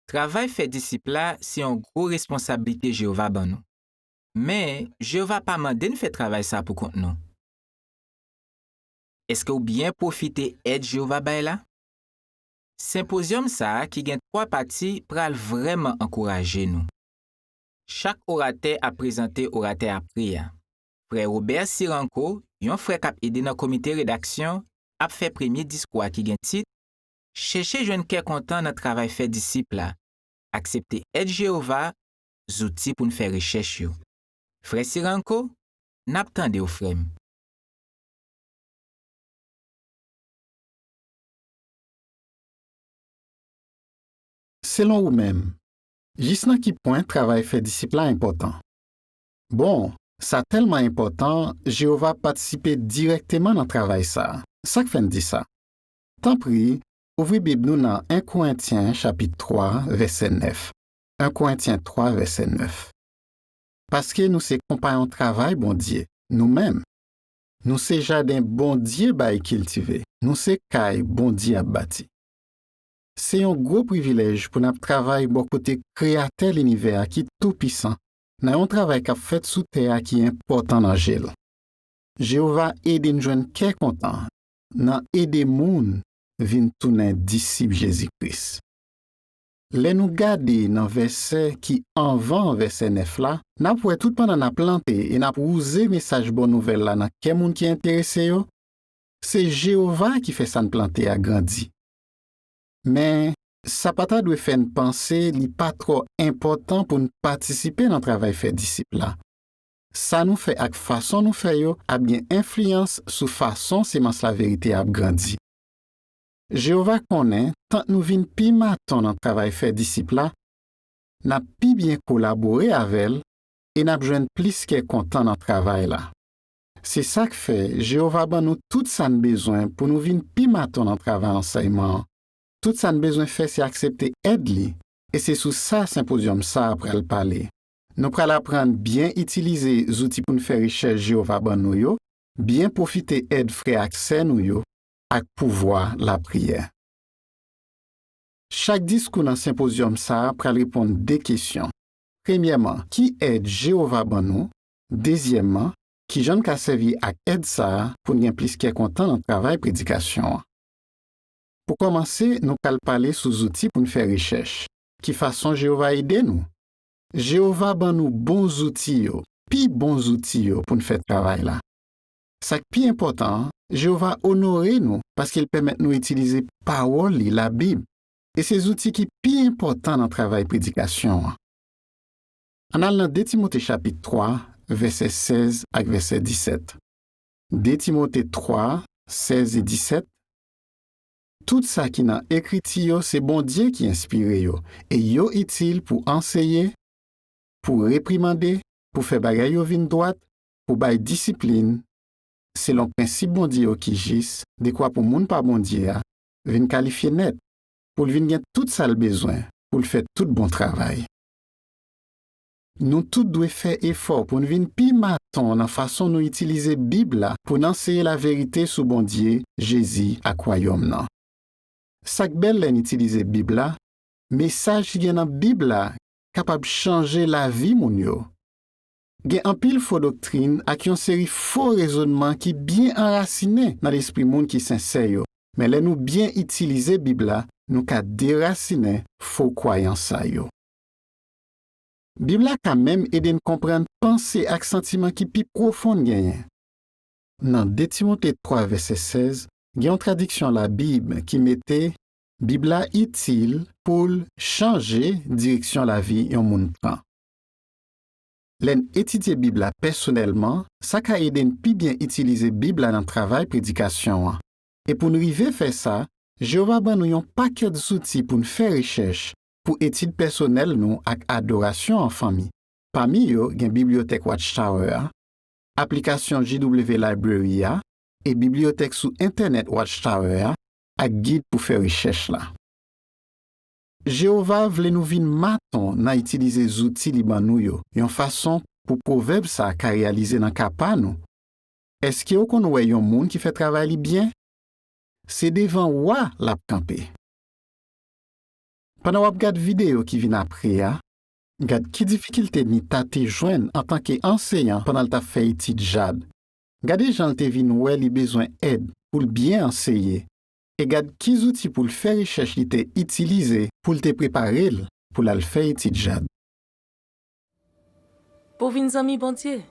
Travay fè disip la se yon gwo responsablite Jewova ban nou. Men, Jewova pa mande n fè travay sa a poukont nou. Èske w byen pwofite èd Jewova bay la? Senpozyòm sa a ki gen twa pati pral vrèman ankouraje nou. Chak oratè ap prezante oratè apre a. Frè Robert Ciranko, yon frè k ap ede nan komite redaksyon, ap fè premye diskou a ki gen tit, Chèche jwenn kè kontan nan travay fè disip la. Aksepte èd Jewova, Zouti pou n fè rechèch yo. Frè Ciranko, n ap tande w, frè m. Selon ou menm, jis nan ki pwen travay fè disip la enpòtan? Bon, sa tèlman enpòtan, Jewova patisipe dirèkteman nan travay sa a. Sa k fè n di sa? Tanpri, ouvri Bib nou nan 1 Korentyen chapit 3, vèsè 9. 1 Korentyen 3, vèsè 9 Paske nou se konpayon travay Bondye, nou menm, nou se jaden Bondye bay kiltive, nou se kay Bondye ap bati. Se yon gwo privilèj pou n ap travay bò kote Kreyatè linivè a ki toupisan nan yon travay k ap fèt sou tè a ki enpòtan nan je l. Jewova ede n jwenn kè kontan nan ede moun vin tounen disip Jezi Kris. Lè nou gade nan vèsè ki anvan vèsè 9 la, n ap wè toutpandan n ap plante e n ap wouze mesaj bon nouvèl la nan kè moun ki enterese yo, se Jewova ki fè sa n plante a grandi. Men, sa pa ta dwe fè n panse li pa twò enpòtan pou n patisipe nan travay fè disip la. Sa nou fè ak fason nou fè yo ap gen enfliyans sou fason semans laverite a ap grandi. Jewova konnen tank nou vin pi maton nan travay fè disip la, n ap pi byen kolabore avè l e n ap jwenn plis kè kontan nan travay la. Se sa k fè Jewova ban nou tout sa n bezwen pou nou vin pi maton nan travay ansèyman an. Tout sa n bezwen fè se aksepte èd li, e se sou sa senpozyòm sa a pral pale. Nou pral aprann byen itilize zouti pou n fè rechèch Jewova ban nou yo, byen pwofite èd frè ak sè nou yo ak pouvwa lapriyè. Chak diskou nan senpozyòm sa a pral reponn de kesyon, Premyèman, ki èd Jewova ban nou? Dezyèmman, ki jan n ka sèvi ak èd sa a pou n gen plis kè kontan nan travay predikasyon an? Pou kòmanse, nou pral pale sou zouti pou n fè rechèch. Ki fason Jewova ede nou? Jewova ban nou bon zouti yo, pi bon zouti yo pou n fè travay la. Sa k pi enpòtan an, Jewova onore nou paske l pèmèt nou itilize Pawòl li, Labib, e se zouti ki pi enpòtan nan travay predikasyon an. Ann al nan 2 Timote chapit 3, vèsè 16 ak vèsè 17. 2 Timote 3, 16 e 17. Tout sa ki nan Ekriti yo se Bondye ki enspire yo e yo itil pou anseye, pou reprimande, pou fè bagay yo vin dwat, pou bay disiplin, selon prensip Bondye yo ki jis, dekwa pou moun pa Bondye a vin kalifye nèt, pou l vin gen tout sa l bezwen pou l fè tout bon travay. Nou tout dwe fè efò pou n vin pi maton nan fason nou itilize Bib la pou n anseye laverite sou Bondye, Jezi ak Wayòm nan. Sa k bèl lè n itilize Bib la, Mesaj ki gen nan Bib la kapab chanje lavi moun yo. Gen anpil fo doktrin ak yon seri fo rezonman ki byen anrasinen nan lespri moun ki sensè yo, men lè nou byen itilize Bib la, nou ka derasinen fo kwayans sa yo. Bib la ka menm ede n konprann panse ak santiman ki pi pwofon n genyen. Nan 2 Timote 3 vèsè 16, gen yon tradiksyon Labib ki mete, Bib la itil pou l chanje direksyon lavi yon moun pran. Lè n etidye Bib la pèsonèlman, sa ka ede n pi byen itilize Bib la nan travay predikasyon an. E pou n rive fè sa, Jewova ban nou yon pakèt zouti pou n fè rechèch, pou etid pèsonèl nou ak adorasyon an fanmi. Pami yo gen Bibliyotèk Watch Tower a, aplikasyon JW Library a e bibliyotèk sou Entènèt Watch Tower a ak gid pou fè rechèch la. Jewova vle nou vin maton nan itilize zouti li ban nou yo yon fason pou pwovèb sa a ka reyalize nan ka pa nou, Èske w konn wè yon moun ki fè travay li byen? Se devan wa l ap kanpe. Pandan w ap gad videyo ki vin apre a, gad ki difikilte Nita te jwenn antanke anseyan pandan l t ap fè etid JAD. Gade jan l te vin wè li bezwen èd pou l byen anseye e gad ki zouti pou l fè rechèch li te itilize pou l te prepare l pou l al fè etid JAD. Pou w vin zanmi Bondye?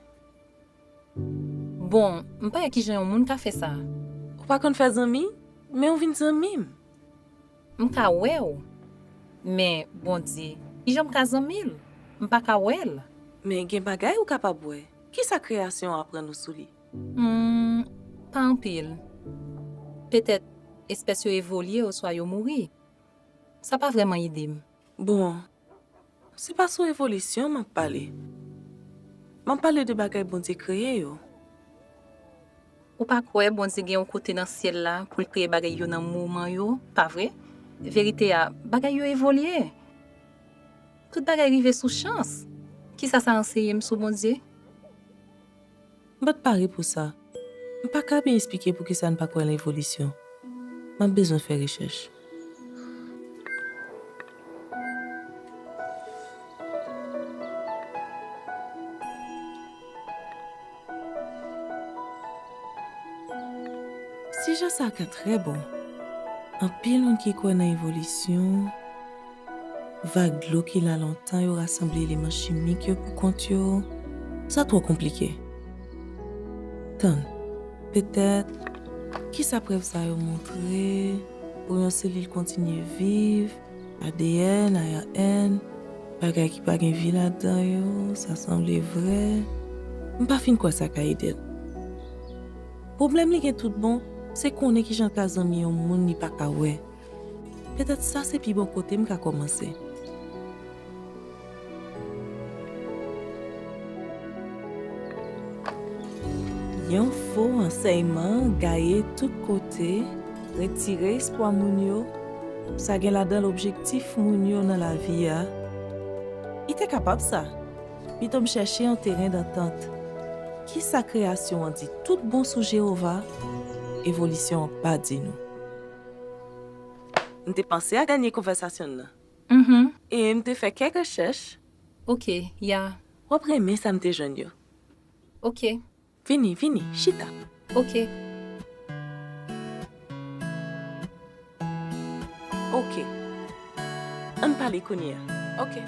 Bon, m pa wè ki jan yon moun ka fè sa. Ou pa konn fè zanmi, men ou vin zanmi m. M ka wè w, men Bondye, ki jan m ka zanmi l? M pa ka wè l. Men gen bagay ou kapab wè. Ki sa kreyasyon an aprann ou sou li? Hum, pa anpil. Petèt, espès yo evolye oswa yo mouri. Sa pa vrèman ede m. Bon, Se pa sou evolisyon m ap pale. M ap pale de bagay Bondye kreye yo. Ou pa kwè Bondye gen yon kote nan syèl la pou l kreye bagay yo nan moman yo, pa vre? Verite a, bagay yo evolye. Tout bagay rive sou chans. Ki sa sa anseye m sou Bondye? M pa t pare pou sa. M pa ka byen esplike poukisa n pa kwè nan evolisyon. M ap bezwen fè rechèch. Sijè sa a ka trè bon. Anpil moun ki kwè nan evolisyon. Vag dlo ki la lontan yo rasanble eleman chimik yo pou kont yo, sa twò konplike. Tann, petèt, kisa prèv sa yo montre pou yon selil kontinye viv, adn, ARN, bagay ki pa gen vi ladan yo, sa sanble vrè, m pa fin kwè sa ka ede l. Pwoblèm li gen tout bon, se konnen kijan l ka zanmi yon moun li pa ka wè. Petèt sa se pi bon kote m ka kòmanse. Yon fo ansèyman gaye tout kote, retire espwa moun yo, sa gen ladan l objektif moun yo nan lavi a. Li te kapab sa. Pito m chèche yon teren dantant. Ki sa kreyasyon an di toutbon sou Jewova? Evolisyon an pa di nou. M te panse a dènye konvèsasyon n nan. E m te fè kèk rechèch. Ok, ya. W ap renmen sa m te jwenn yo. Ok. Vini, vini, chita. Ok. Ok. An n pale kounye a. Ok.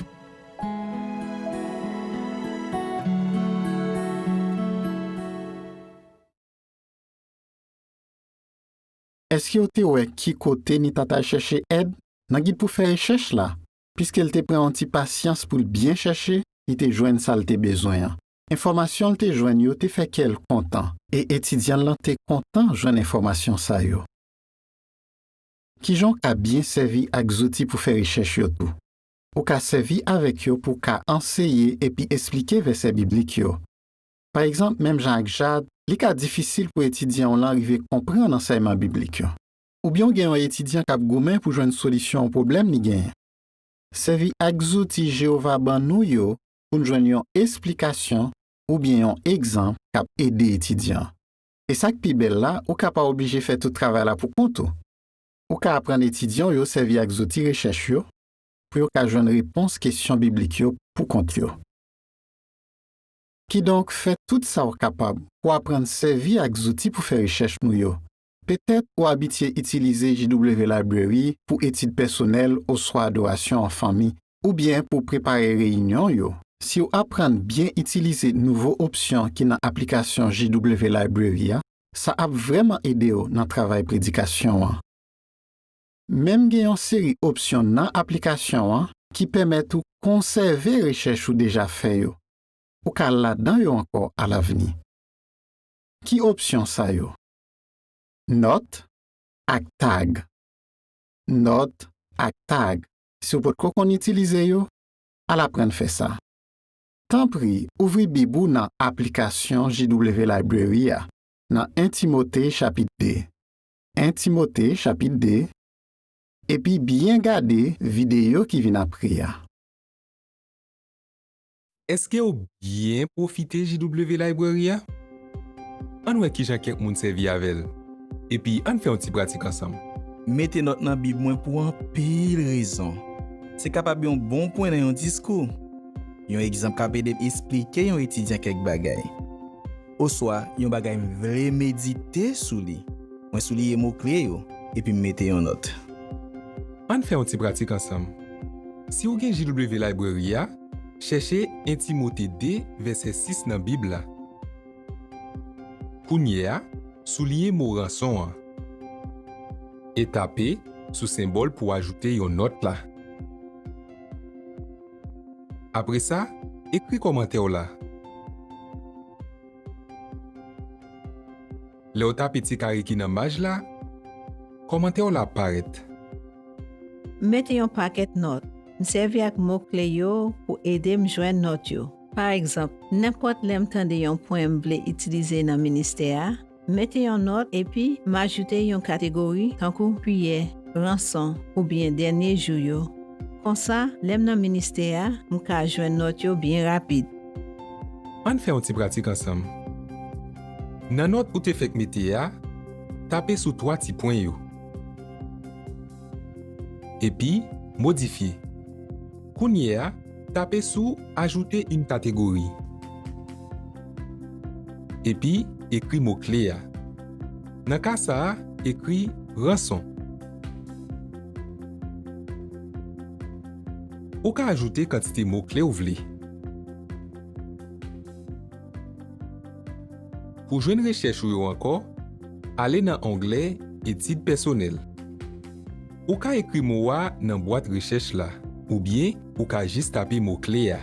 Èske w te wè ki kote Nita t al chèche èd? Nan gid pou fè rechèch la, piske l te pran yon ti pasyans pou l byen chèche, li te jwenn sa l te bezwen an. Enfòmasyon l te jwenn yo te fè kè l kontan, e etidyan l lan te kontan jwenn enfòmasyon sa yo. Ki jan w ka byen sèvi ak zouti pou fè rechèch yo tou? Ou ka sèvi avèk yo pou w ka anseye epi esplike vèsè biblik yo. Pa egzanp, menm jan ak Jad, li ka difisil pou etidyan w lan rive konprann ansèyman biblik yo. Oubyen w gen yon etidyan k ap goumen pou jwenn solisyon yon pwoblèm li genyen. Sèvi ak zouti Jewova ban nou yo pou n jwenn yon esplikasyon oubyen yon egzanp k ap ede etidyan an. E sa k pi bèl la, ou ka pa oblije fè tout travay la poukont ou. Ou ka aprann etidyan w yo sèvi ak zouti rechèch yo pou yo ka jwenn repons kesyon biblik yo poukont yo. Kidonk, fè tout sa w kapab pou w aprann sèvi ak zouti pou fè rechèch nou yo. Petèt ou abitye itilize JW Library pou etid pèsonèl oswa adorasyon an fanmi, oubyen pou w prepare reyinyon yo. Si w aprann byen itilize nouvo opsyon ki nan aplikasyon JW Library a, sa ap vrèman ede w nan travay predikasyon an. Menm gen yon seri opsyon nan aplikasyon an ki pèmèt ou konsève rechèch ou deja fè yo. Ou ka al ladan yo ankò alavni. Ki opsyon sa yo? Nòt ak Tag Nòt ak Tag Si w potko konn itilize yo, al aprann fè sa. Tanpri ouvri Bib ou nan aplikasyon JW Library a nan 1 Timote chapit 2. 1 Timote chapit 2 epi byen gade videyo ki vin apre a. Èske w byen pwofite JW Library a? Ann wè kijan kèk moun sèvi avè l, epi ann fè yon ti pratik ansanm. M mete nòt nan Bib mwen pou anpil rezon. Se kapab yon bon pwen nan yon diskou. Yon egzanp k ap ede m esplike yon etidyan kèk bagay. oswa yon bagay m vle medite sou li. Mwen souliye mo kle yo epi m mete yon nòt. Ann fè yon ti pratik ansanm. Si ou gen JW Library a, chèche 1 Timote 2, vèsè 6 nan Bib la. Kounyeya, souliye mo ranson an e tape sou senbòl pou ajoute yon nòt la. Apre sa, ekri kòmantè w la. Lè w tape ti kare ki nan maj la, kòmantè w la ap parèt. M mete yon pakèt nòt. M sèvi ak mo kle yo pou ede m jwenn nòt yo. Pa egzanp, nenpòt lè m tande yon pwen m vle itilize nan ministè a, Mete yon nòt epi m ajoute yon kategori tankou priyè, ranson, oubyen dènye jou yo. Konsa, lè m nan ministè a, m ka jwenn nòt yo byen rapid. Ann fè yon ti pratik ansanm. Nan nòt ou te fèk mete a, tape sou twa ti pwen yo. Epi, modifye. Kounye a, Tape sou Ajouter une catégorie. Epi ekri mo kle a. Nan ka sa a, ekri Ranson. Ou ka ajoute kantite mo kle ou vle. Pou jwenn rechèch ou yo ankò, ale nan onglè Etid pèsonèl. Ou ka ekri mo a nan bwat rechèch la, oubyen ou ka jis tape mo kle a.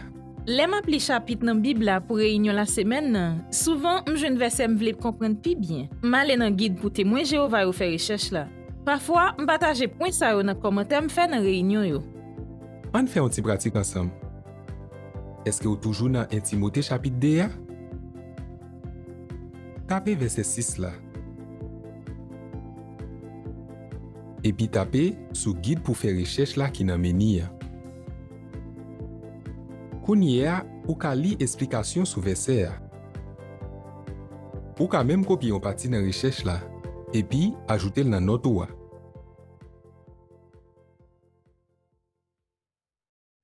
Lè m ap li chapit nan Bib la pou reyinyon lasemèn nan, souvan m jwenn vèsè m vle konprann pi byen. M ale nan Gid pou Temwen Jewova yo fè rechèch la. Pafwa, m pataje pwen sa yo nan kòmantè m fè nan reyinyon yo. Ann fè yon ti pratik ansanm. Èske w toujou nan 1 Timote chapit 2 a? Tape vèsè 6 la. epi tape sou Gid pou fè rechèch la ki nan meni a. Kounye a, ou ka li esplikasyon sou vèsè a. Ou ka menm kopye yon pati nan rechèch la epi ajoute l nan nòt ou a.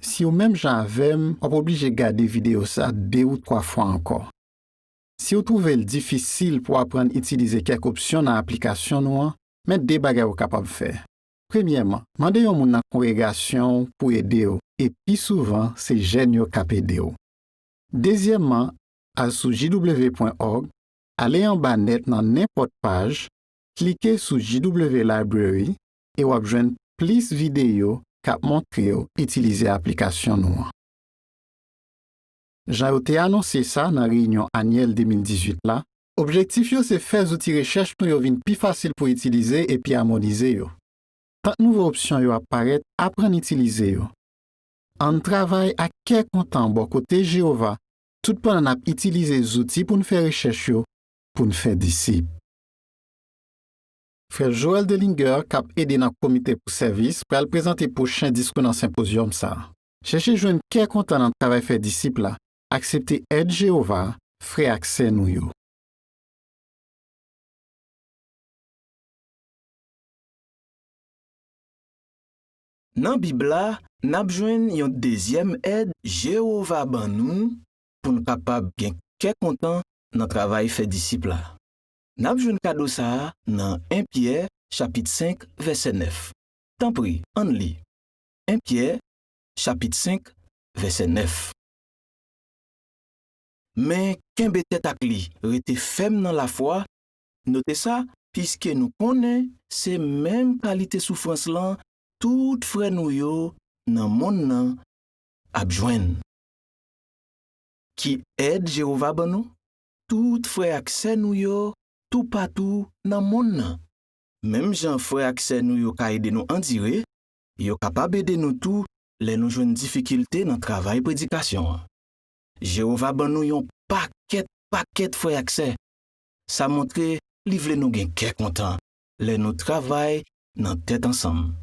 Siw menm jan avèm wap oblije gade video sa 2 ou 3 fwa ankò. Si ou twouve l difisil pou aprann itilize kèk opsyon nan aplikasyon nou an, men de bagay ou kapab fè. Premyèman, mande yon moun nan kongregasyon w pou ede w, e pi souvan se jèn yo k ap ede w. Dezyèmman, al sou jw.org, ale anba nèt nan nenpòt paj, klike sou JW Library e w ap jwenn plis videyo k ap montre w itilize aplikasyon nou an. Jan yo te anonse sa nan reyinyon anyèl 2018 la, objektif yo se fè zouti rechèch nou yo vin pi fasil pou itilize epi amonize yo. Tank nouvo opsyon yo ap parèt, aprann itilize yo. Ann travay ak kè kontan bò kote Jewova toutpandan n ap itilize zouti pou n fè rechèch yo pou n fè disip. Frè Joel Dellinger, k ap ede nan Komite pou Sèvis, pral prezante pwochen diskou nan senpozyòm sa a. Chèche jwenn kè kontan nan travay fè disip la. Aksepte èd Jewova, frè ak sè nou yo. Nan Bib la, n ap jwenn yon dezyèm èd Jewova ban nou pou n kapab gen kè kontan nan travay fè disip la. N ap jwenn kado sa a nan 1 Pyè chapit 5, vèsè 9. Tanpri, ann li. 1 Pyè chapit 5 vèsè 9 Men, kenbe tèt ak li, rete fèm nan lafwa, note sa, piske nou konnen se menm kalite soufrans lan tout frè nou yo nan monn nan ap jwenn. Ki èd Jewova ban nou? Tout frè ak sè nou yo toupatou nan monn nan. Menm jan frè ak sè nou yo ka ede nou andire, Yo kapab ede nou tou lè nou jwenn difikilte nan travay predikasyon an. Jewova ban nou yon pakèt pakèt frè ak sè. Sa montre li vle nou gen kè kontan lè nou travay nan tèt ansanm.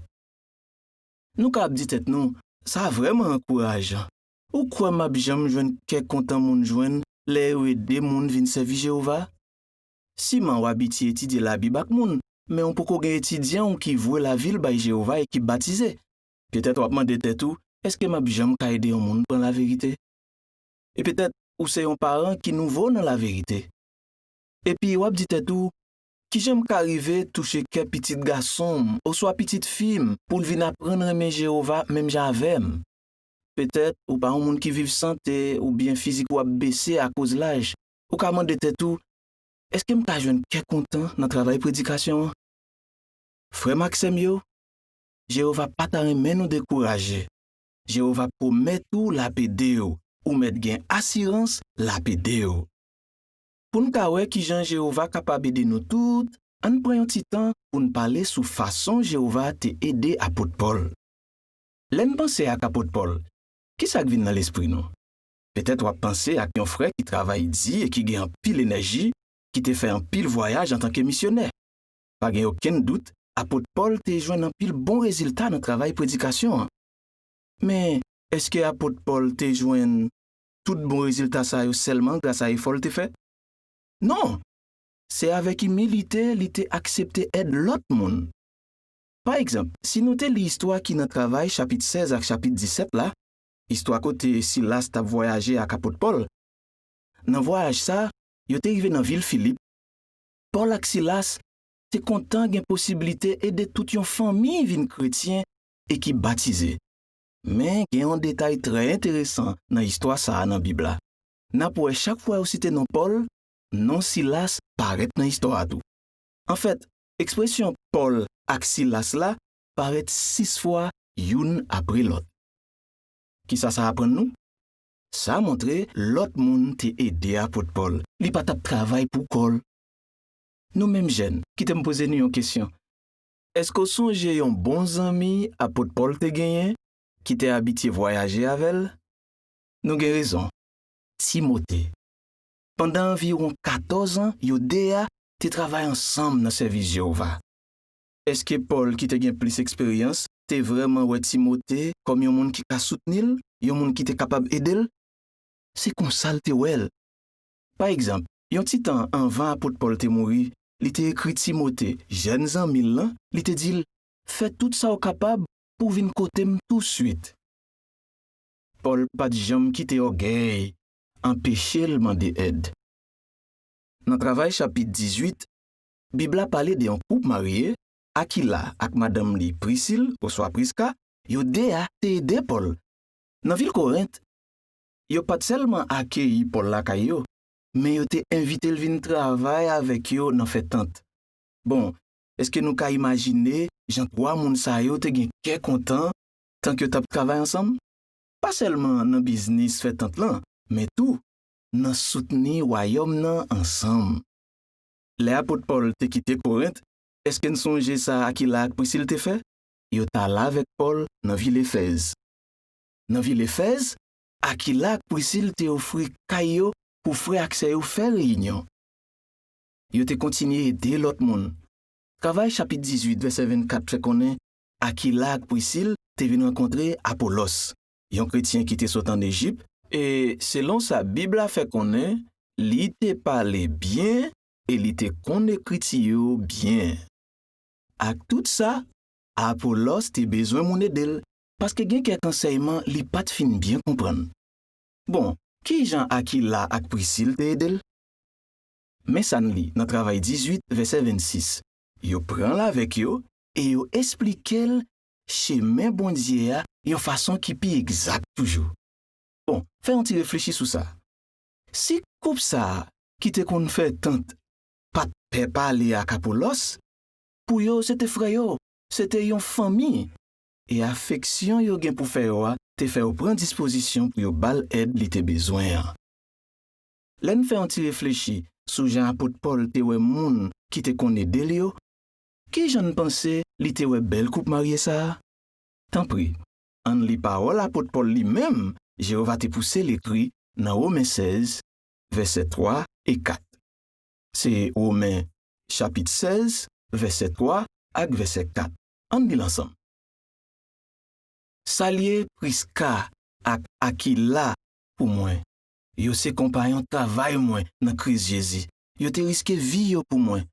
Nou ka ap di tèt nou, 'Sa vrèman ankourajan! Ou kwè m ap janm jwenn kè kontan moun jwenn lè yo ede moun vin sèvi Jewova? Siman w abitye etidye Labib ak moun, men w poko gen etidyan w ki vwe lavi l bay Jewova e ki batize. Petèt w ap mande tèt ou, 'Èske m ap janm ka ede yon moun pran laverite? E petèt ou se yon paran ki nouvo nan laverite. Epi, w ap di tèt ou, 'Ki jan m ka rive touche kè pitit gason m oswa pitit fi m pou l vin aprann renmen Jewova menm jan avè m? Petèt ou pa yon moun ki viv sante oubyen fizik ou ap bese akoz laj. ou ka mande tèt ou, 'Èske m ka jwenn kè kontan nan travay predikasyon an? Frè m ak sè m yo, Jewova pa ta renmen nou dekouraje. Jewova pwomèt ou l ap ede w, ou mèt gen asirans l ap ede w. Pou n ka wè ki jan Jewova kapab ede nou tout, ann pran yon ti tan pou n pale sou fason Jewova te ede apot Pòl. Lè n panse ak apot Pòl, ki sa k vin nan lespri nou? Petèt w ap panse ak yon frè ki travay di e ki gen anpil enèji, ki te fè anpil vwayaj antanke misyonè. Pa gen okenn dout, apot Pòl te jwenn anpil bon rezilta nan travay predikasyon an. Men, èske apot Pòl te jwenn tout bon rezilta sa yo sèlman grasa efò l te fè? Non! Se avèk imilite li te aksepte èd lòt moun. Pa egzanp, si nou te li istwa ki nan Travay chapit 16 ak chapit 17 la, Istwa kote Silas t ap vwayaje ak apot Pòl Nan vwayaj sa a, yo te rive nan vil Filip. Pòl ak Silas te kontan gen posiblite ede tout yon fanmi vin kretyen e ki batize. Men, gen yon detay trè enteresan nan istwa sa a nan Bib la. N ap wè chak fwa yo site non Pòl, non Silas parèt nan istwa a tou. Anfèt, ekspresyon Pòl ak Silas la parèt sis fwa youn apre lòt. Ki sa sa aprann nou? Sa montre lòt moun te ede apot Pòl, li pa t ap travay pou kò l. Nou menm jèn, kite m poze nou yon kesyon, Èske w sonje yon bon zanmi apot Pòl te genyen ki te abitye vwayaje avè l? Nou gen rezon, Timote. Pandan anviwon katòz an, yo de a te travay ansanm nan sèvis Jewova. Èske Pòl ki te gen plis eksperyans te vrèman wè Timote kòm yon moun ki ka soutni l, yon moun ki te kapab ede l? Se konsa l te wè l. Pa egzanp, yon ti tan anvan apot Pòl te mouri, li te ekri Timote, jèn zanmi l lan, li te di l, Fè tout sa w kapab pou w vin kote m tousuit. Pòl pa t janm kite ògèy anpeche l mande èd. Nan Travay chapit 18, Bib la pale de yon koup marye, Akila ak madanm li Prisil oswa Priska, yo de a te ede Pòl. Nan vil Korent, yo pa t sèlman akeyi Pòl lakay yo, men yo te envite l vin travay avèk yo nan fè tant. Bon, èske nou ka imajine jan twa moun sa yo te gen kè kontan tank yo t ap travay ansanm, pa sèlman nan biznis fè tant lan, men tou nan soutni Wayòm nan ansanm? lè apot Pòl te kite Korent, èske n sonje sa Akila ak Prisil te fè? Yo t al avèk Pòl nan vil Efèz. Nan vil Efèz, Akila ak Prisil te ofri kay yo pou frè ak sè yo fè reyinyon. Yo te kontinye ede lòt moun. Travay chapit 18, vèsè 24 fè konnen Akila ak Prisil te vin rankontre Apolòs. yon kretyen ki te sot ann Ejip, e selon sa Bib la fè konnen, li te pale byen e li te konn Ekriti yo byen. Aktout sa, Apolòs te bezwen moun ede l, paske gen kèk ansèyman li pa t fin byen konprann. Bon, ki jan Akila ak Prisil te ede l? Men sa n li nan Travay 18, vèsè 26, Yo pran l avèk yo e yo esplike l chemen Bondye a yon fason ki pi egzak toujou. Bon, fè yon ti reflechi sou sa, Si koup sa a ki te konn fè tant pa t pè pale ak Apolòs, pou yo se te frè yo, se te yon fanmi, e afeksyon yo gen pou fè yo a te fè yo pran dispozisyon pou yo ba l èd li te bezwen an. Lè n fè yon ti reflechi sou jan apot Pòl te wè moun ki te konn ede l yo, Ki jan n panse li te wè bèl koup marye sa a? Tanpri, ann li pawòl apot Pòl li menm Jewova te pouse l ekri nan Women 16, vèsè 3 e 4. Se Women chapit 16, vèsè 3 ak vèsè 4. Ann li l ansanm. Salye Priska ak Akila pou mwen. Yo se konpayon travay mwen nan Kris Jezi. Yo te riske vi yo pou mwen.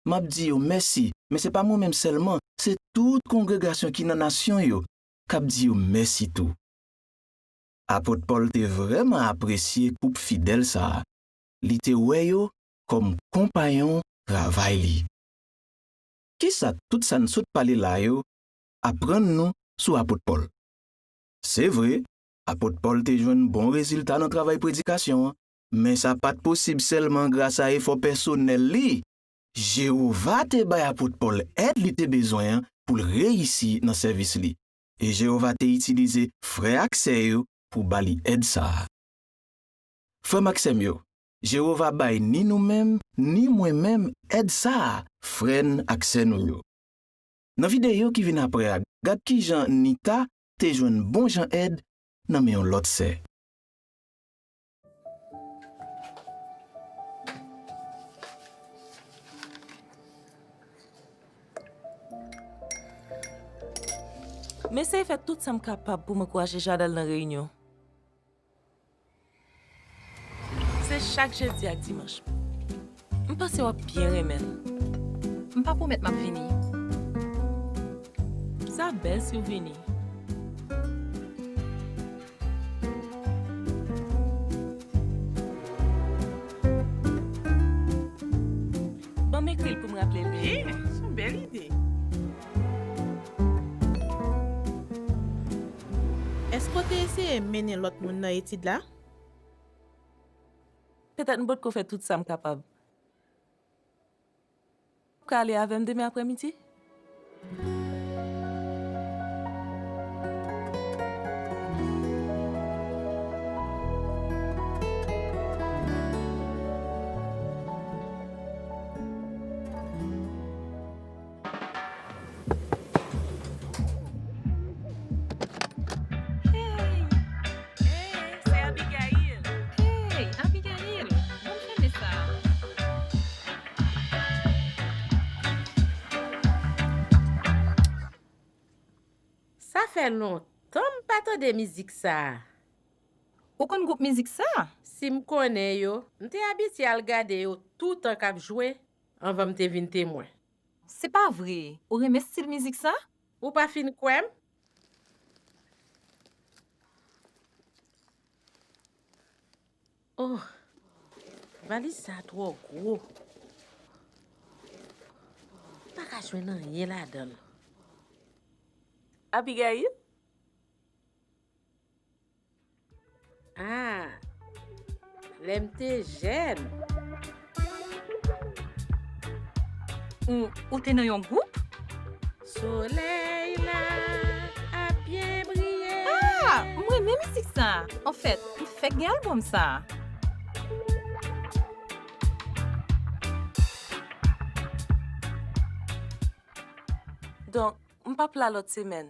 M ap di yo mèsi, men se pa mwen menm sèlman, se tout kongregasyon ki nan nasyon yo k ap di yo mèsi tou. Apot Pòl te vrèman apresye koup fidèl sa a, li te wè yo kòm konpayon travay li. Ki sa tout sa n sot pale la yo aprann nou sou apot Pòl? Se vre, apot Pòl te jwenn bon rezilta nan travay predikasyon an, Men sa pa t posib sèlman grasa efò pèsonèl li. Jewova te bay apot Pòl èd li te bezwen an pou l reyisi nan sèvis li, e Jewova te itilize frè ak sè yo pou ba li èd sa a. Frè m ak sè m yo, Jewova bay ni nou menm ni mwen menm èd sa a frè n ak sè nou yo. Nan videyo ki vin apre a, gad ki jan Nita te jwenn bonjan èd nan men yon lòt sè. M eseye fè tout sa m kapab pou m ankouraje Jad al nan reyinyon. Se chak jedi ak dimanch. M panse wap byen renmen l. M pa pwomèt map vini. Sa bèl siw vini. Banm ekri l poum raple l de nou. Byen, son bèl ide. Èske w te eseye mennen lòt moun nan etid la? Petèt m potko fè tout sa m kapab. Ou ka ale avè m demen aprèmidi? Sa fè lontan m pa tande mizik sa a. Ou konn gwoup mizik sa? Si m konnen yo, m te abitye al gade yo toutan k ap jwe. Anvan m te vin Temwen. Se pa vre! Ou renmen stil mizik sa? Ou pa fin kwè m? Oh! Valiz sa twò gwo. M pa ka jwenn anyen ladan l. Abigail? Ah, lè m te jèn. Ou, ou te nan yon gwoup? Solèy la ap byen briye. Ah, m renmen misik sa. Anfèt, m fèk gen albòm sa a. Donk, m p ap la lòt semèn.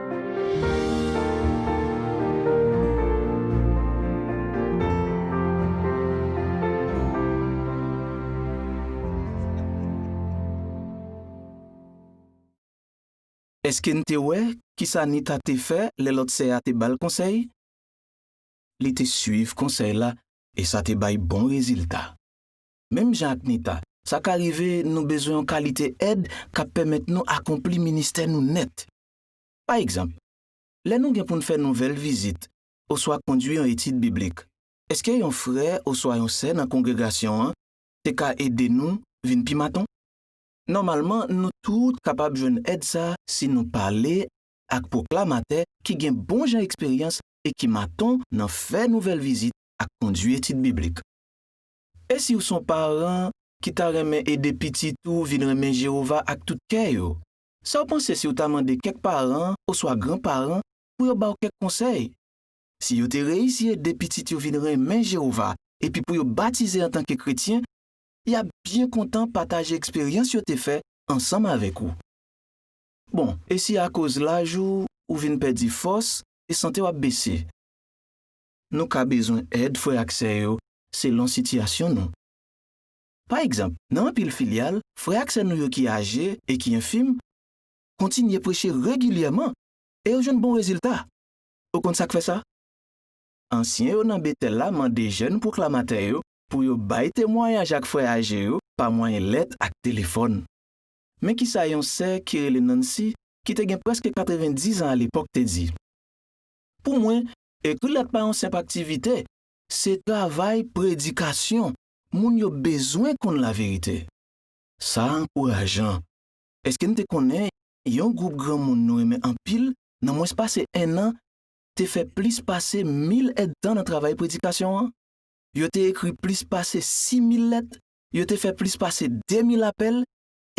Èske n te wè ki sa Nita te fè lè lòt sè a te ba l konsèy? Li te suiv konsèy la e sa te bay bon rezilta. Menm jan ak Nita, sa ka rive nou bezwen yon kalite èd k ap pèmèt nou akonpli ministè nou nèt. Pa egzanp, lè nou gen pou n fè nouvèl vizit oswa kondui yon etid biblik, èske yon frè oswa yon sè nan kongregasyon an te ka ede nou vin pi maton? Nòmalman, nou tout kapab jwenn èd sa a si nou pale ak pwoklamatè ki gen bonjan eksperyans e ki maton nan fè nouvèl vizit ak kondui etid biblik. E si w son paran ki ta renmen ede pitit ou vin renmen Jewova ak tout kè yo? Sa w panse si w ta mande kèk paran oswa granparan pou yo ba w kèk konsèy? Si yo te reyisi ede pitit yo vin renmen Jewova epi pou yo batize antanke kretyen, y ap byen kontan pataje eksperyans yo te fè ansanm avèk ou. Bon, e si akoz laj ou, ou vin pèdi fòs e sante w ap bese? Nou ka bezwen èd frè ak sè yo selon sitiyasyon nou. Pa egzanp, nan anpil filyal, frè ak sè nou yo ki aje e ki enfim kontinye preche regilyèman e yo jwenn bon rezilta. Ou konn sa k fè sa? Ansyen yo nan Betèl la mande jèn pwoklamatè yo pou yo bay temwayaj ak frè aje yo pa mwayen lèt ak telefòn. Men ki sa yon sè ki rele Nancy, ki te gen prèske 90 an alepòk, te di, Pou mwen, ekri lèt pa yon senp aktivite, se travay predikasyon. Moun yo bezwen konn laverite. Sa a ankourajan! Èske n te konnen yon gwoup granmoun nou renmen anpil nan mwens pase ennan te fè plis pase mil èdtan nan travay predikasyon an? Yo te ekri plis pase sis mil lèt, yo te fè plis pase de mil apèl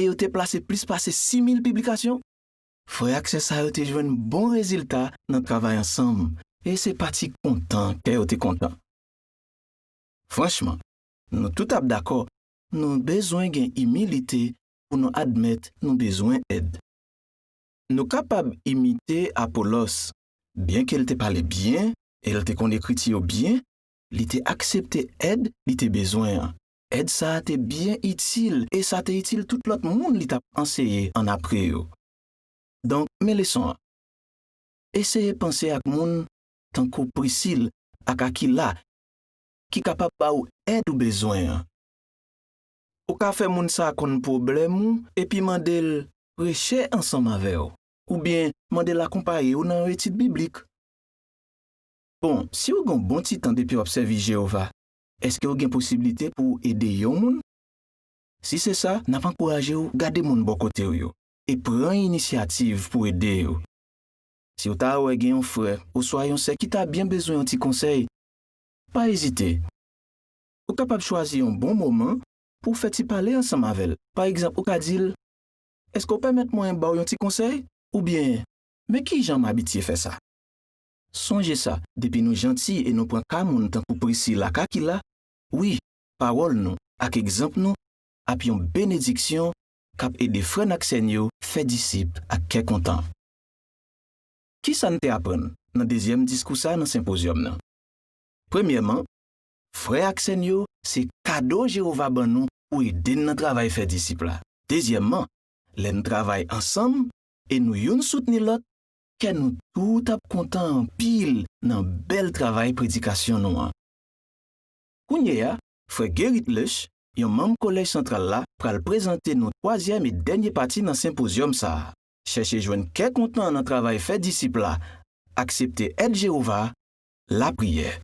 e yo te plase plis pase sis mil piblikasyon. Frè ak sè sa yo te jwenn bon rezilta nan travay ansanm, e se pa ti kontan kè yo te kontan! Franchman, nou tout ap dakò nou bezwen gen imilite pou nou admèt nou bezwen èd. Nou kapab imite Apolòs. Byenke l te pale byen e l te konn Ekriti yo byen, li te aksepte èd li te bezwen an. Èd sa a te byen itil e sa te itil tout lòt moun li t ap anseye annapre yo. Donk, men leson an, Eseye panse ak moun tankou Prisil ak Akila ki kapab ba ou èd ou bezwen an. Ou ka fè moun sa a konn pwoblèm ou epi mande l preche ansanm avè w oubyen mande l akonpaye w nan yon etid biblik. Bon, si ou gen yon bon ti tan depi w ap sèvi Jewova, èske ou gen posiblite pou w ede yon moun? Si se sa, n ap ankouraje w gade moun bò kote w yo e pran inisyativ pou w ede yo. Si w ta wè gen yon frè oswa yon sè ki ta byen bezwen yon ti konsèy, Pa ezite! Ou kapab chwazi yon bon moman pou w fè ti pale ansanm avè l. Pa egzanp, ou ka di l, Èske w pèmèt mwen ba w yon ti konsèy? oubyen Men ki jan m abitye fè sa. Sonje sa, depi nou janti e nou pran ka moun tankou Priscille ak Aquila, wi, pawòl nou ak egzanp nou ap yon benediksyon k ap ede frè n ak sè n yo fè disip ak kè kontan. Ki sa n te aprann nan dezyèm diskou sa a nan senpozyòm nan? Premyèman, frè ak sè n yo se kado Jewova ban nou pou ede n nan travay fè disip la. Dezyèmman, lè n travay ansanm e nou youn soutni lòt, kè nou tout ap kontan anpil nan bèl travay predikasyon nou an. Kounye a, frè Gerrit Lösch, yon manm Kolèj santral la, pral prezante nou twazyèm e dènye pati nan senpozyòm sa a. chèche jwenn kè kontan nan travay fè disip la, aksepte èd Jewova, lapriyè.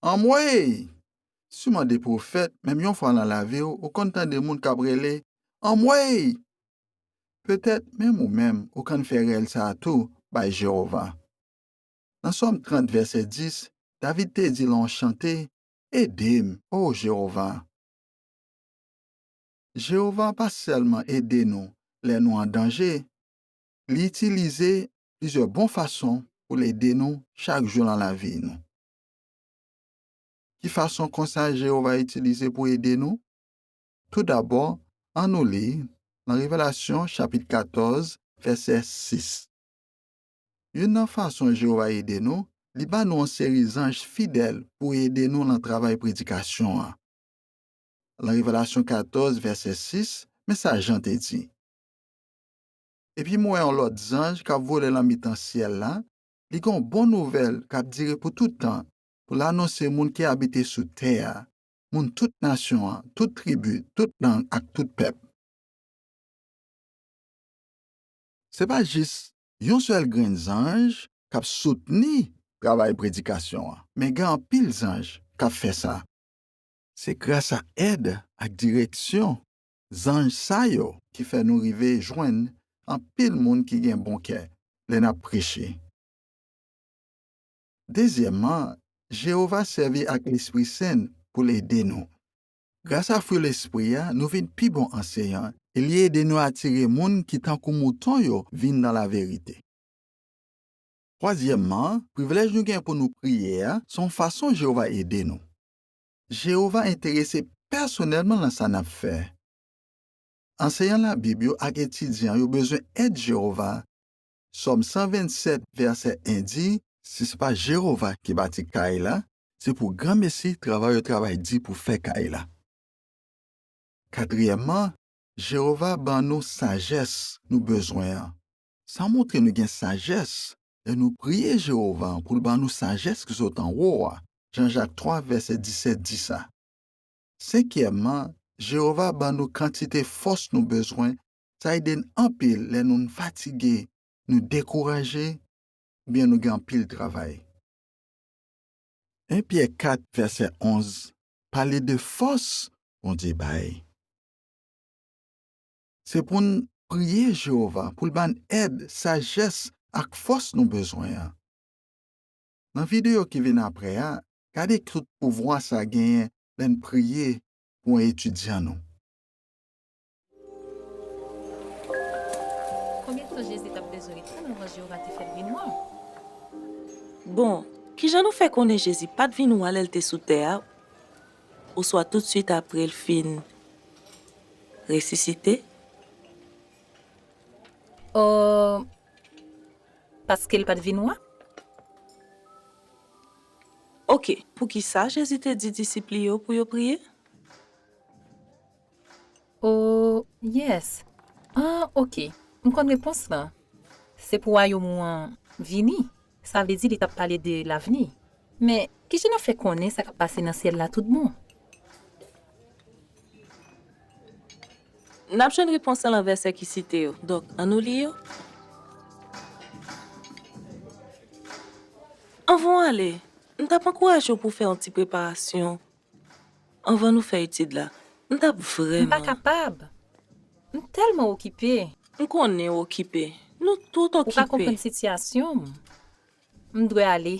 Anmweyy! Siman de pwofèt, menm yon fwa nan lavi w, ou konn tande moun k ap rele, Anmweyy! Petèt, menm ou menm, ou konn fè rèl sa a tou bay Jewova. Nan Sòm 30, vèsè 10, David te di lan yon chante, Ede m, o Jewova! Jewova pa sèlman ede nou lè nou an danje, li itilize plizyè bon fason pou l ede nou chak jou nan lavi nou. Ki fason konsa Jewova itilize pou ede nou? Toudabò, annou li nan Revelasyon chapit 14, vèsè 6. Youn nan fason Jewova ede nou, li ban nou yon seri zanj fidèl pou ede nou nan travay predikasyon an. Lan Revelasyon 14, vèsè 6, men sa Jan te di, Epi m wè yon lòt zanj k ap vole lan mitan syèl la, li gen yon bon nouvèl k ap dire pou tout tan, pou l anonse moun ki abite sou tè a, moun tout nasyon an, tout tribi, tout lang ak tout pèp. Se pa jis yon sèl grenn zanj k ap soutni travay predikasyon an, men gen anpil zanj k ap fè sa. Se grasa èd ak direksyon zanj sa yo ki fè nou rive jwenn anpil moun ki gen bon kè lè n ap preche. Dezyèmman, Jewova sèvi ak lespri sen l pou l ede nou. Grasa fwi lespri a, nou vin pi bon anseyan e li ede nou atire moun ki tankou mouton yo vin nan laverite. Twazyèmman, privilèj nou gen pou nou priye a se yon fason Jewova ede nou. Jewova enterese pèsonèlman nan sa n ap fè. Anseyan Labib yo ak etidyan yo bezwen èd Jewova Sòm 127, vèsè 1 di, Si se pa Jewova ki bati kay la, se pou granmesi travay yo travay di pou fè kay la. Katriyèmman, Jewova ban nou sajès nou bezwen an. Sa montre nou gen sajès lè nou priye Jewova pou l ban nou sajès ki sot anwo a, Jan Jak 3, vèsè 17 di sa. Senkyèmman, Jewova ban nou kantite fòs nou bezwen Sa ede n anpil lè nou n fatige, nou dekouraje, oubyen nou gen anpil travay. 1 Pyè 4 vèsè 11 pale de fòs Bondye bay. Se pou n priye Jewova pou l ban n èd, sajès ak fòs nou bezwen an. Nan videyo ki vin apre a, gade tout pouvwa sa genyen lè n priye pou etidyan nou. Konbyen tan Jezi t ap bezwen ret la anvan Jewova te fè l vin wa? Bon, ki jan nou fè konnen Jezi pa t vin wa lè l te sou tè a oswa tousuit apre l fin resisite? O Paske l pa t vin wa. Oke, poukisa Jezi te di disip li yo pou yo priye? Oh yes ah ok m konn repons lan se pou wayom ou an vini sa vle di li tap pale de lavni. Men, ki jan nou fè konnen sa k ap pase nan syèl la toutbon? N ap jwenn repons lan nan vèsè ki site yo. Donk, annou li yo. Anvan w ale, m t ap ankouraje w pou w fè yon ti preparasyon Anvan nou fè etid la, m t ap vrèman. M pa kapab! M tèlman okipe! M konnen w okipe. Nou tout okipe. Ou pa konprann sitiyasyon m. M dwe ale.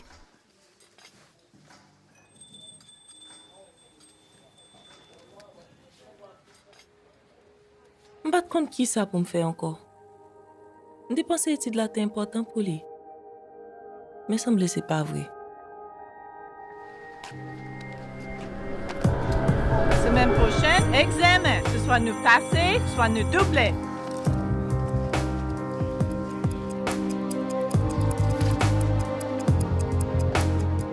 M pa t konn ki sa pou m fè ankò. M te panse etid la te enpòtan pou li. Men sanble se pa vre. Semèn pwochèn, egzèmen! Se swa nou pase, swa nou double.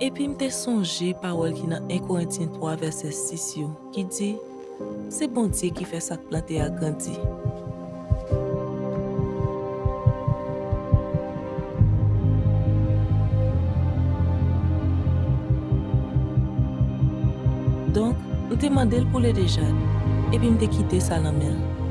Epi m te sonje pawòl ki nan 1 Korentyen 3 vèsè 6 yo, ki di, Se Bondye ki fè sa k plante a grandi. Donk, m te mande l pou ledejad, epi m te kite sa nan men l.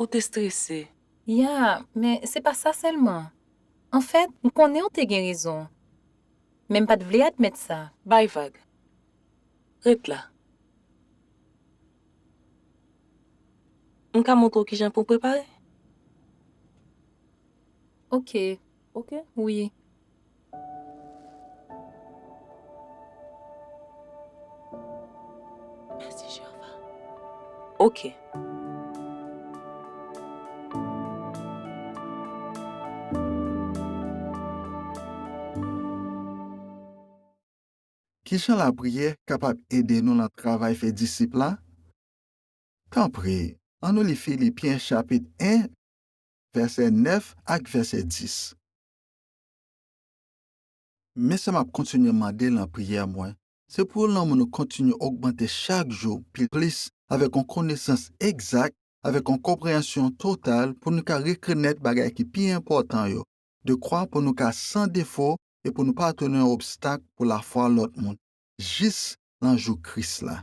Ou te strese. Ya, men se pa sa sèlman. Anfèt, m konnen ou te gen rezon. Men m pa t vle admèt sa. Bay vag. Ret la. M ka montre w kijan pou w prepare? Oke. ok wi. Merci Jehovah. Ok. Kijan lapriyè kapab ede nou nan travay fè disip la? Tanpri, annou li Filipyen chapit 1, vèsè 9 ak vèsè 10. Men sa m ap kontinye mande nan priyè mwen, se pou lanmou nou kontinye ogmante chak jou pi plis avèk yon konesans egzak, avèk yon konpreyansyon total pou nou ka rekenèt bagay ki pi enpòtan yo, dekwa pou nou ka san defo e pou nou pa tounen yon obstak pou lafwa lòt moun, jis nan jou Kris la.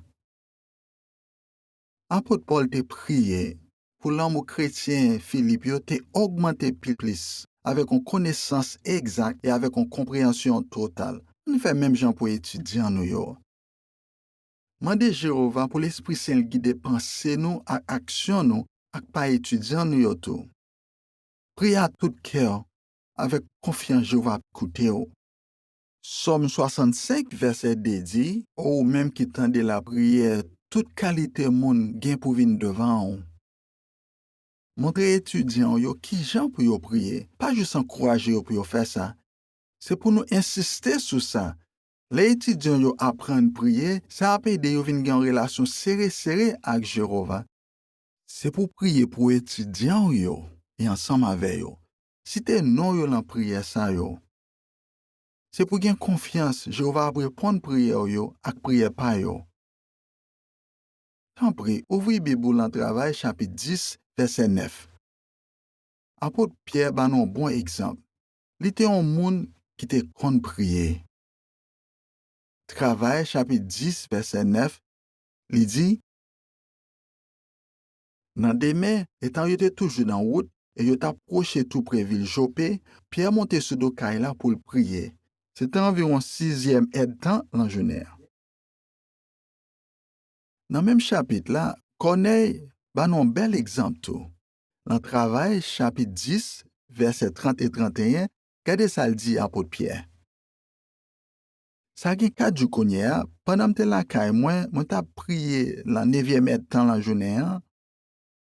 Apot Pòl te priye pou lanmou kretyen Filip yo te ogmante pi plis, avèk yon konesans egzak e avèk yon konpreyansyon total. Ann fè menm jan pou etidyan nou yo. Mande Jewova pou lespri sen l gide panse nou ak aksyon nou ak pa etidyan nou yo tou. Priye ak tout kè w avèk konfyans Jewova ap koute w. Sòm 65 vèsè 2 di, O ou menm ki tande lapriyè tout kalite moun gen pou vin devan ou, montre etidyan w yo ki jan pou yo priye. Pa jis ankouraje yo pou yo fè sa, se pou nou ensiste sou sa. Lè etidyan yo aprann priye, sa ap ede yo vin gen yon relasyon sere sere ak Jewova. Se pou w priye pou etidyan w yo e ansanm avè yo. Site non yo nan priyè sa yo. Se pou w gen konfyans Jewova ap reponn priyè w yo ak priyè pa yo. Tanpri, ouvri Bib ou lan Travay chapit 10, vèsè 9. Apot Pyè ban nou yon bon egzanp. Li te yon moun ki te konn priye. Travay chapit 10, vèsè 9, li di, Nan demen, etan yo te toujou nan wout e yo t ap pwoche toupre vil Jope, Pyè monte sou do kay la pou l priye. Se te anviwon sizyèm èdtan nan jounen an. Nan menm chapit la, Kònèy ban nou yon bèl egzanp tou. Nan Travay chapit 10, vèsè 30 e 31, gade sa l di apot Pyè, Sa gen 4 jou kounye a, pandan m te lakay mwen, mwen t ap priye lan nevyèm èdtan lan jounen an,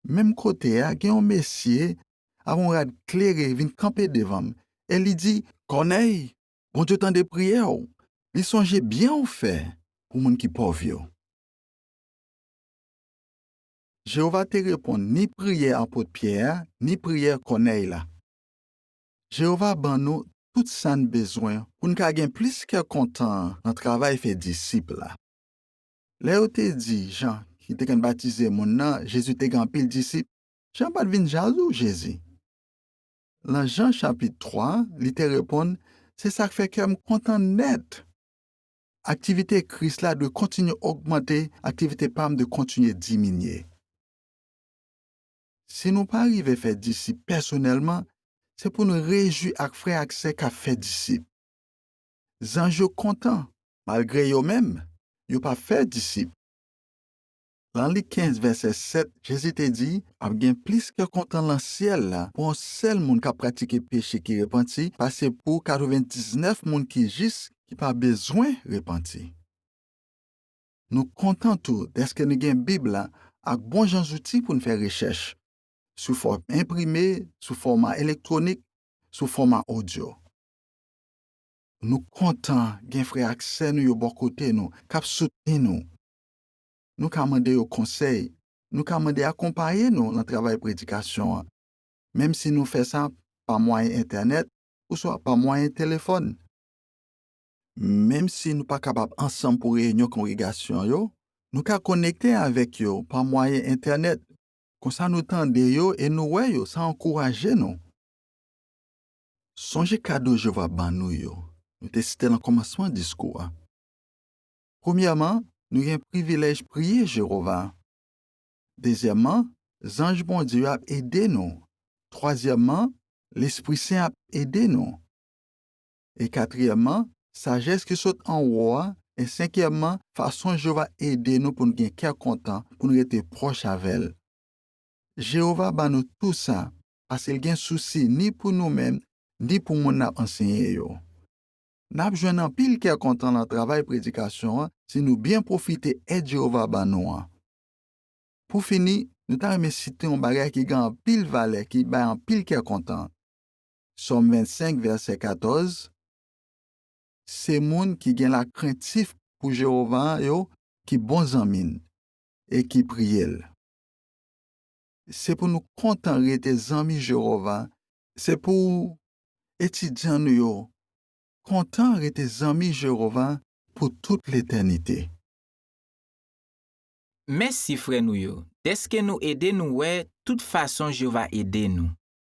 menm kote a, gen yon mesye ak yon rad klere vin kanpe devan m, e li di. Kònèy, Bondye tande priyè w, li sonje byen w fè pou moun ki pòv yo. Jewova te reponn ni priyè apot Pyè a ni priyè Kònèy la. Jewova ban nou tout sa n bezwen pou n ka gen plis kè kontan nan travay fè disip la. Lè yo te di Jan ki te konn batize moun nan Jezi te gen anpil disip, Jan pa t vin jazou Jezi. Nan Jan chapit 3, li te reponn, Se sa k fè kè m kontan nèt. Aktivite Kris la dwe kontinye ogmante, aktivite pa m dwe kontinye diminye. Si nou pa rive fè disip pèsonèlman, se pou n rejwi ak frè ak sè k ap fè disip. Zanj yo kontan malgre yo menm yo pa fè disip. Lan Lik 15, vèsè 7, Jezi te di, Ap gen plis kè kontan lan syèl la pou yon sèl moun k ap pratike peche ki repanti pase pou katrevendiznèf moun ki jis ki pa bezwen repanti. Nou kontan tou dèske nou gen Bib la ak bonjan zouti pou n fè rechèch, sou fòm enprime, sou fòma elektwonik, sou fòma odyo. Nou kontan gen frè ak sè nou yo bò kote nou, k ap soutni nou. Nou ka mande yo konsèy, nou ka mande akonpaye nou nan travay predikasyon an, menmsi nou fè sa pa mwayen Entènèt oswa pa mwayen telefòn. Menm si nou pa kapab ansanm pou reyinyon kongregasyon yo, nou ka konekte avèk yo pa mwayen Entènèt. Konsa nou tande yo e nou wè yo, sa ankouraje nou. Sonje kado Jewova ban nou yo. Nou te site l nan kòmansman diskou a. Premyèman, nou gen privilèj priye Jewova. Dezyèmman, zanj Bondye yo ap ede nou. Twazyèmman, lespri sen ap ede nou. e katriyèmman, sajès ki sot anwo a, e senkyèmman, fason Jewova ede nou pou n gen kè kontan, pou n rete pwòch avè l. Jewova ban nou tou sa paske l gen sousi ni pou nou menm ni pou moun n ap anseye yo. N ap jwenn anpil kè kontan nan travay predikasyon an si nou byen pwofite èd Jewova ban nou an. Pou fini, nou ta renmen site yon bagay ki gen anpil valè ki bay anpil kè kontan. Sòm 25, vèsè 14, Se moun ki gen lakrentif pou Jewova yo ki bon zanmi n e ki priye l. Se pou nou kontan rete zanmi Jewova. Se pou etidyan nou yo kontan rete zanmi Jewova pou tout letènite. Mèsi, frè nou yo, dèske nou ede nou wè tout fason Jewova ede nou.